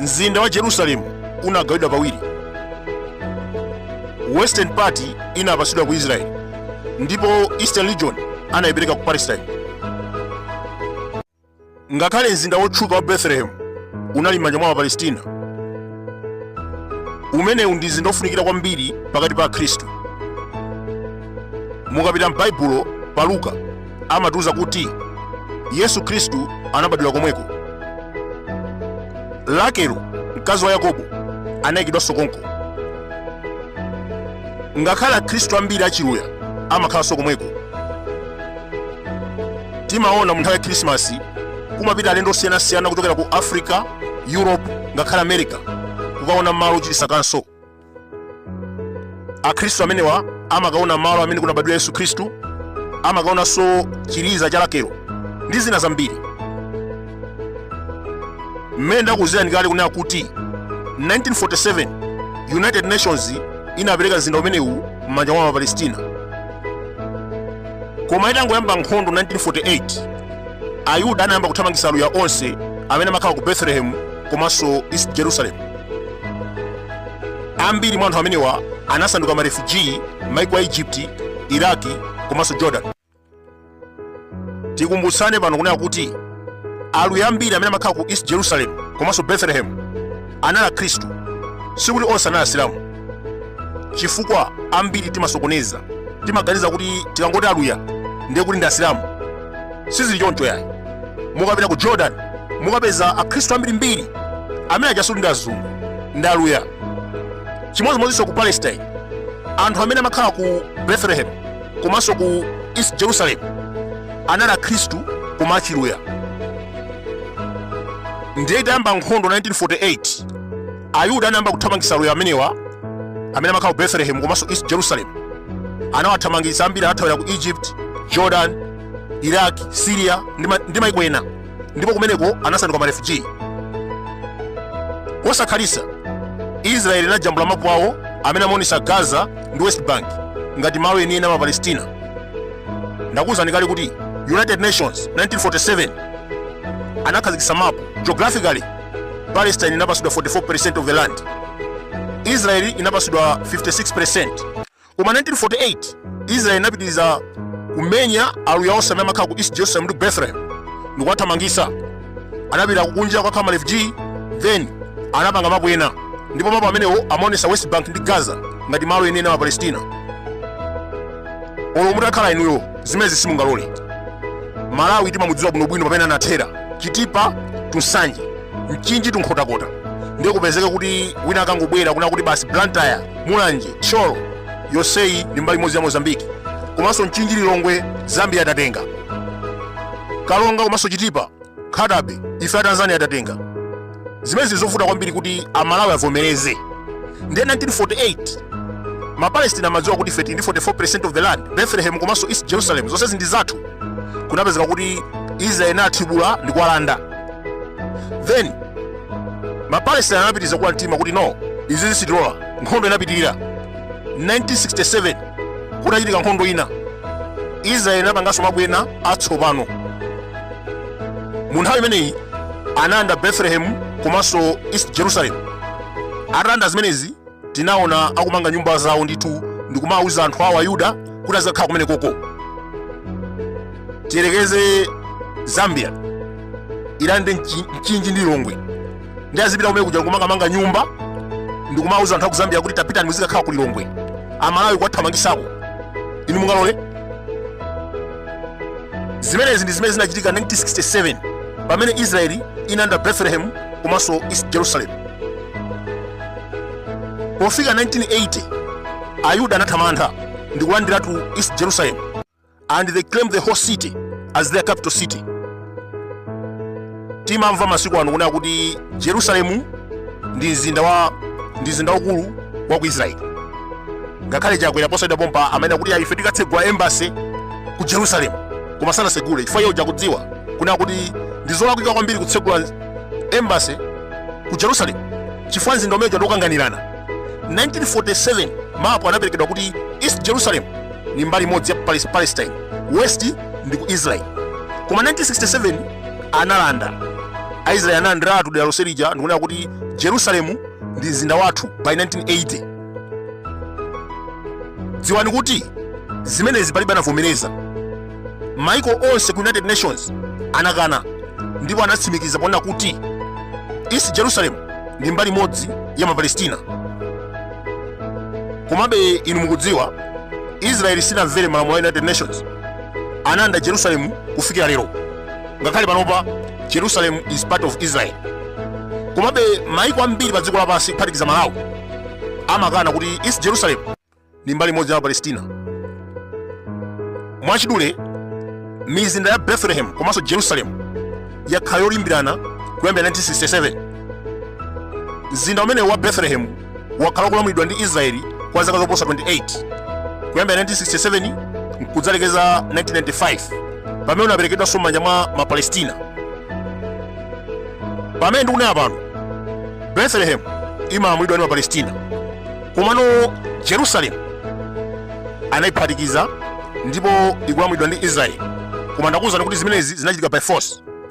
mzinda wa jerusalemu unagawidwa pawiri western part inapatsidwa ku israeli ndipo eastern region anayipereka ku palestine ngakhale mzinda wotchuka wa bethlehem unali m'manja mwa apalestina umenewu ndi mzinda wofunikira kwambiri pakati pa akhristu mukapita m'baibulo pa luka amatiuza kuti yesu khristu anabadwira komweko rakelo mkazi wa yakobo anayikidwanso konko ngakhale akhristu ambiri achiluya amakhalanso komweko timaona mu nthawi ya khrisimasi kumapita alendo osiyanasiyana kuchokera ku africa europe ngakhale america kukaona malo ochititsa kaso akhristu amenewa amakaona malo amene kunabadwira yesu khristu amakaonanso chiliza cha rakelo ndi zina zambiri mmene ndakuuzirani kale kunena kuti 1947 united nations inapereka mzinda umenewu m'manja mwa mapalestina koma itangoyamba nkhondo 1948 ayuda anayamba kuthamangitsa aluya onse amene amakhala ku betelehemu komanso east jerusalem ambiri mwa anthu amenewa anasanduka marefugee m'maiko a egypt iraki komanso jordan tikumbutsane pano kunena kuti aluya ambiri amene amakhala ku east jerusalem komanso bethlehem anali akhristu sikuti onse anali asilamu chifukwa ambiri timasokoneza timaganiza kuti tikangoti aluya ndiye kuti ndi asilamu sizili choncho yayi mukapita ku jordan mukapeza akhristu ambirimbiri amene achasuli ndi azungu ndi aluya chimodzimodzinso ku palestine anthu amene amakhala ku bethlehem komanso ku east jerusalem anali akhristu koma achiluya ndiye itayamba nkhondo 1948 ayuda anayamba kuthamangitsa aluya amenewa amene amakhala ku betelehemu komanso east jerusalem anawathamangitsa ambiri anathawira ku egypt jordan iraq syria ndi maiko ena ndipo kumeneko anasanduka marefugee osakhalitsa israeli inajambula mapu awo amene amaonesa gaza ndi west bank ngati malo enieni a mapalestina ndakuwuzani kale kuti united nations 1947 anakhazikitsa mapu geographically palestine inapasidwa 44 percent of the land israeli inapasidwa 56 percent koma 1948 israeli inapitiriza kumenya aluya onse amene amakhala ku east jerusalem ndi bethlehem ndikuwathamangisa anapita kukunja kukakhala marefugee then anapanga mapu ena ndipo mapu amenewo amaonesa west bank ndi gaza ngati malo enieni a mapalestina olo mutakhala inuyo zimenezi simungalole malawi timamudziwa bwinobwino pamene anathera chitipa tusanje mchinji tunkhotakota ndiye kupezeke kuti wina akangobwera kunena kuti basi blantyre mulanje thyolo yonseyi ndi mbali imodzi ya mozambique komanso mchinji lilongwe zambia atatenga karonga komanso chitipa nkhatabay ife a tanzania atatenga zimenezi zovuta kwambiri kuti amalawi avomereze ndiye 1948 mapalestina amadziwa kuti ife tili ndi 44 of the land bethlehem komanso east jerusalem zonsezi ndi zathu kunapezeka kuti israel inathibula ndi kuwalanda then mapalestina anapitiriza kuwa mtima kuti no izizi sitilola nkhondo inapitirira 1967 kunachitika nkhondo ina israel inapanganso mapu ena atsopano mu nthawi imeneyi analanda betelehemu komanso east jerusalem atalanda zimenezi tinaona akumanga nyumba zawo ndithu ndikumawuza anthu awo ayuda kuti azikakhala kumene koko tiyerekeze zambia ilande mchinji ndi lilongwe ndi azipita kumene kujaku kumakamanga nyumba ndikumauza anthu akuzambia kuti tapitani muzikakhala ku lilongwe amalawi kuwathamangisako inu mungalole zimenezi ndi zimene zinachitika 1967 pamene israeli inalanda bethlehem komanso east jerusalem pofika 1980 ayuda anathamanga ndi kulandiratu east jerusalem and they claim the whole city as their capital city timamva masiku ano kunena kuti jerusalemu ndi mzinda wa ndi mzinda waukulu wa ku israeli ngakhale chakwera posachedwa pompa amanena kuti ife tikatsegula embassy ku jerusalemu koma sanasegule chifukwa iye uja akudziwa kunena kuti ndi zolakwika kwambiri kutsegula embassy ku jerusalemu chifukwa mzinda umene uja ndi wokanganirana 1947 mapu anaperekedwa kuti east jerusalem ndi mbali imodzi ya Palis- palestine west ndi ku israel koma 1967 analanda aisraeli analandiratu dera lonse lija ndikunena kuti jerusalemu ndi mzinda wathu by 1980 dziwani kuti zimenezi palibe anavomereza maiko onse ku united nations anakana ndipo anatsimikiza ponena kuti east jerusalem ndi mbali imodzi ya mapalestina komabe inu mukudziwa israeli sinamvere malamulo a united nations analanda jerusalemu kufikira lero ngakhale panopa jerusalem is part of israel komabe maiko ambiri pa dziko lapansi kuphatikiza malawi amakana kuti east jerusalem ndi mbali imodzi ya palestina mwachidule mizinda ya bethlehem komanso jerusalem yakhala yolimbirana kuyambira 1967 mzinda umenewu wa bethlehem wakhala ukulamulidwa ndi israeli kwa zaka zoposa 28 kuyambira 1967 nkudzalekeza 1995 pamene unaperekedwanso m'manja mwa mapalestina pamene ndikunena pano bethlehem imalamulidwa ndi mapalestina komano jerusalem anayiphatikiza ndipo ikulamulidwa ndi israeli koma ndakuwuzani kuti zimenezi zinachitika by force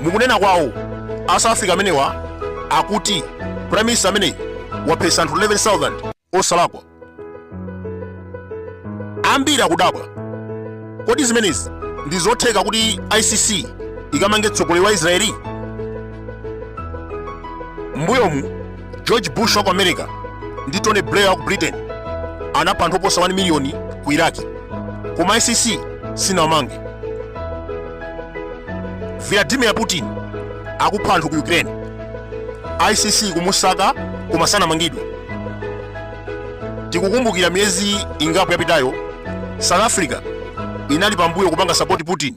mukunena kwawo a south africa amenewa akuti prime minister ameneyi waphetsa anthu 11000 osalakwa ambiri akudabwa kodi zimenezi ndi zotheka kuti icc ikamange mtsogoleri wa israeli mbuyomu george bush wa ku america ndi tony blair wa ku britain anapha anthu oposa 1 miliyoni ku iraki koma icc sinawamange vladimir putin akupha anthu ku ukraine icc kumusaka koma sanamangidwe tikukumbukira miyezi ingapo yapitayo south africa inali pambuyo kupanga sapoti putin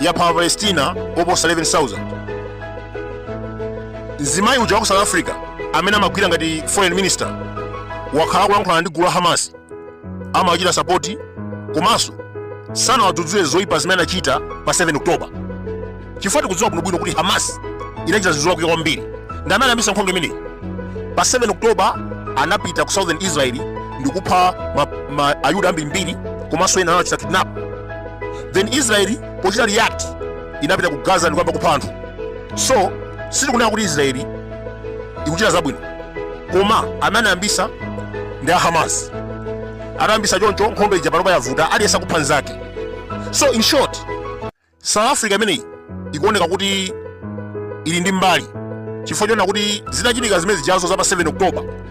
yapha Mapalestina oposa 11,000. Mzimayi uja wa ku South Africa amene amagwira ngati foreign minister wakhala akulankhulana ndi gulu la Hamas amawachita sapoti komanso sanawadzudzule zoyipa zimene anachita pa 7 October chifukwa tikudziwa bwinobwino kuti Hamas inachita zinthu zolakwika kwambiri ndi amene anayambitsa nkhondo imeneyi pa 7 October anapita ku Southern Israel ndi kupha a, Ayuda ambirimbiri komanso ena anawachita kidnap then israeli pochita react inapita ku gaza ndikuyamba kupha anthu so sitikunena kuti israeli ikuchita zabwino koma amene anayambisa ndi a hamas anayambisa choncho nkhondo ija panopa yavuta aliyense akupha nzake so in short south africa imeneyi ikuoneka kuti ili ndi mbali chifukwa chonena kuti zinachitika zimene zijazo za pa 7 october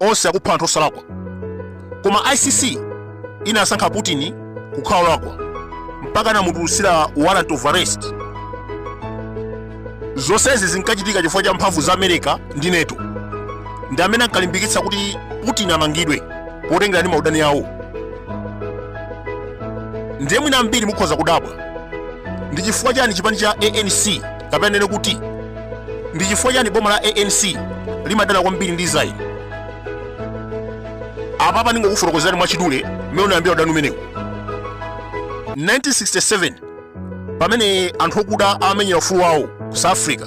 onse akupha anthu osalakwa koma icc inasankha putin kukhala olakwa mpaka anamutulutsira warrant of arrest zonsezi zinkachitika chifukwa cha mphamvu za america ndi nato ndi amene ankalimbikitsa kuti putin amangidwe potengera ndi maudani awo ndiye mwina ambiri mukhoza kudabwa ndi chifukwa chani chipani cha anc kapena nene kuti ndi chifukwa chani boma la anc limadana kwambiri ndi israel apapa ndingokufotokozerani mwachidule mmene unayambira udani umenewu 1967 pamene anthu okuda amenyera ufulu wawo ku south africa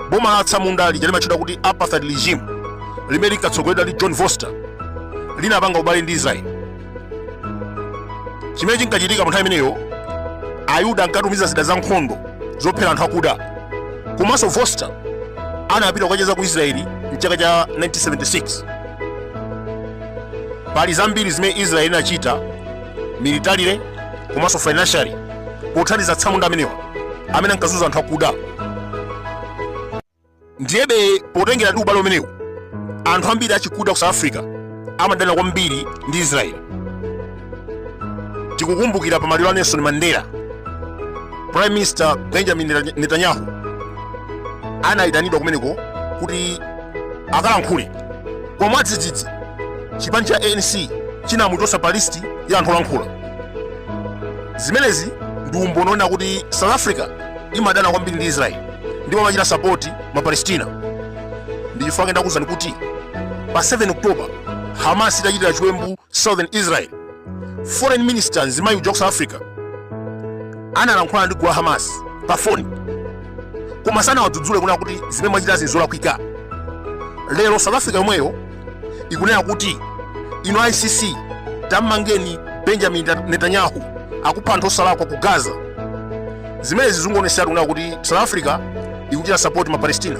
boma la atsamunda lija limatchedwa kuti apartheid regime limene linkatsogoleredwa ndi john vorster linapanga ubale ndi israel chimene chinkachitika pa nthawi imeneyo ayuda ankatumiza zida za nkhondo zophera anthu akuda komanso vorster anapita kukacheza ku israeli mchaka cha 1976 pali zambiri zimene israeli inachita militarily komanso financially pothandiza atsamunda amenewa amene ankazunza anthu akuda ndiyebe potengera ndi ubale umenewu anthu ambiri achikuda ku south africa amadana kwambiri ndi israeli tikukumbukira pa maliro a nelson mandela prime minister benjamin netanyahu anayitanidwa kumeneko kuti akalankhule koma mwadzidzidzi chipani cha anc chinamuchotsa pa listi ya anthu olankhula zimenezi ndi umboni wonena kuti south africa imadana kwambiri ndi israeli ndipo amachita sapoti mapalestina ndi chifukwa chake ndakuuzani kuti pa 7 oktoba hamas itachitira chiwembu southern israel foreign minister mzimayi uja ku south africa analankhula ndi gulu la hamas pa foni koma sanawadzudzule kunena kuti zimene mwachitazi nzolakwika lero south africa yomweyo ikunena kuti inu icc tammangeni benjamin netanyahu akupha anthu osalakwa ku gaza zimenezi zikungoonetsera kunena kuti south africa ikuchita sapoti ma palestina